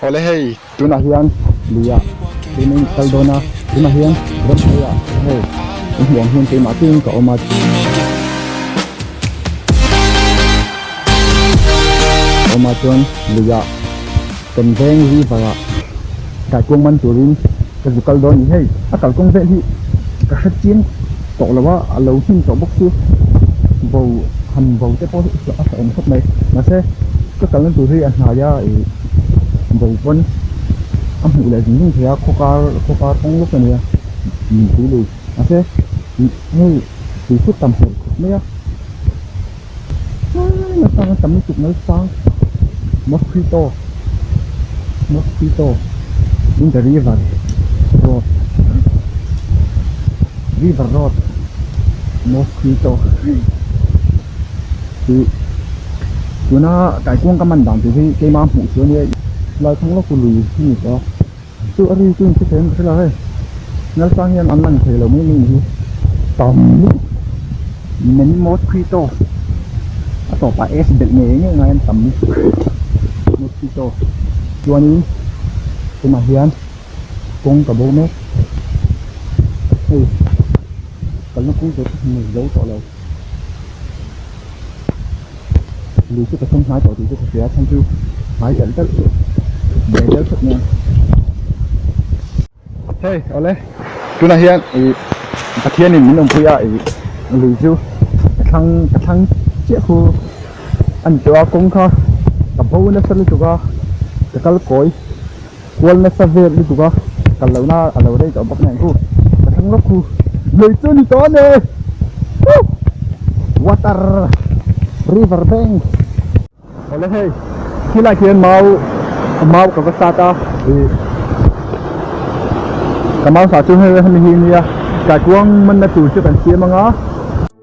Awle hei! Tunah hian luia chu min kal dawn a, tunah hian ram hnuaia hei i hmuh ang hian keimah tling ka awm a chuan luia temveng river ah daikuang man turin, Ka zu kal dawn ni hei, a kalkawng vel hi ka hre chiang tawh lo a, a lo hlim tawh bawk chu bo han bo te pawh hi a hreawm khawp mai, mahse ka kal na tur hi a hnaia ih bo pawn a hmuh leh zung zung thei a, khawkar khawkar kawng lawk ania min tih leh, mahse hei tui phut ta hmuh khawp mai a. Tlai atang a tam lutuk mai chuang mosquito mosquito in the river road river road mosquito tih tuna kaikuang ka man dan tih hi keimah hmuh chu ania tlai thlang lawk chu lui a ni tawh a. chu a ri chu in hrethiam em ka hre la hei nal sang hian an lang theilo mai mai ni hi tam lutuk men mosquito a tawpah s belh ngei ngei ngei an tam lutuk mosquito chuanin tunah hian kawng ka bo mek hei kalna kung zawhte hmuh zo tawh lo. lui chu ka thawm nghal tawh tih chu ka hria a then chu nghal telh telh tih bel zel phawt nen hei awle tunah hian i pathianin min awmpui a i lui chu ka thlang ka thlang chiah khu a ni tawh a kawng kha ka bo nasa lutuk a ka kal kawi. Kual nasa vel lutuk a kal lo na a lo rei tawh bawk nen chu ka thlang lawk khu lei chu ni ta ne water river bank awle hei khi lai khian mau mau ka va sa ta i ka mau sa chu hei hemi hi nia ka tuang man na tur chu kan siam anga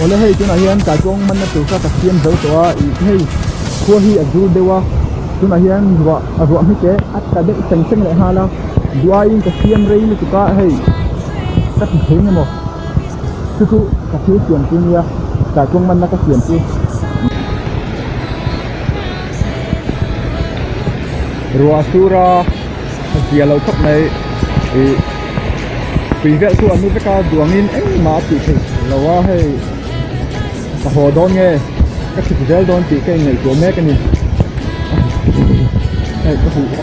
Awle hei tunah hian Kaipuang manna tur kha ka siam zo tawh a, ih hei khua hi a zul deuh a, tunah hian ruah a ruah hmi teh a ta deuh seng seng leh nghal a, duhaiin ka siam rei lutuk a hei ka ti thei nge maw chu chu ka thil siam chu nia Kaipuang manna ka siam chu ruah a sur a. hawzia lo khawp mai ih tui velh chu a nu vek a duangin engmah a tih theih lo a hei ka haw dawn nge ka thik zel dawn tih ka inngaihtuah mek a ni hei ka hmu a.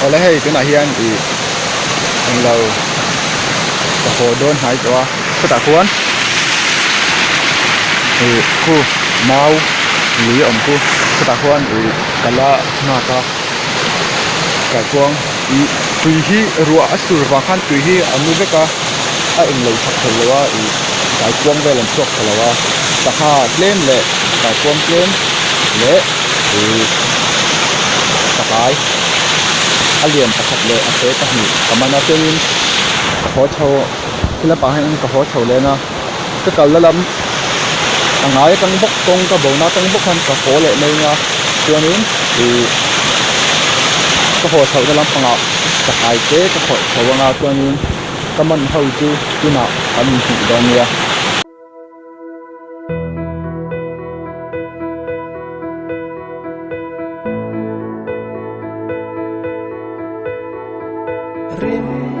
Awle hei tunah hian ih englo ka haw dawn hnai tawh a khutah khuan ih khu mau li awm chu khutah khuan ih kal a nghak a. tah chuan ih tui hi ruah a sur vang khan tui hi a nu vek a a eng lo chhak tho lo a ih kai kuang vel an chhuak tha lo a sangha tlem leh kai kuang tlem leh ih ka kai a lian pakhat leh a te pahnih ka man a chuanin ka haw chho thil a pang hian ka haw chho leh na. ka kal la lam a ngai atang bawk kawngka bo na atang bawk khan ka haw leh mai anga chuanin ih ka haw chhoh na lampangah ka hai che ka khawih tho anga chuanin ka man ho chu tunah an inhmuh dawn nia rimtuih.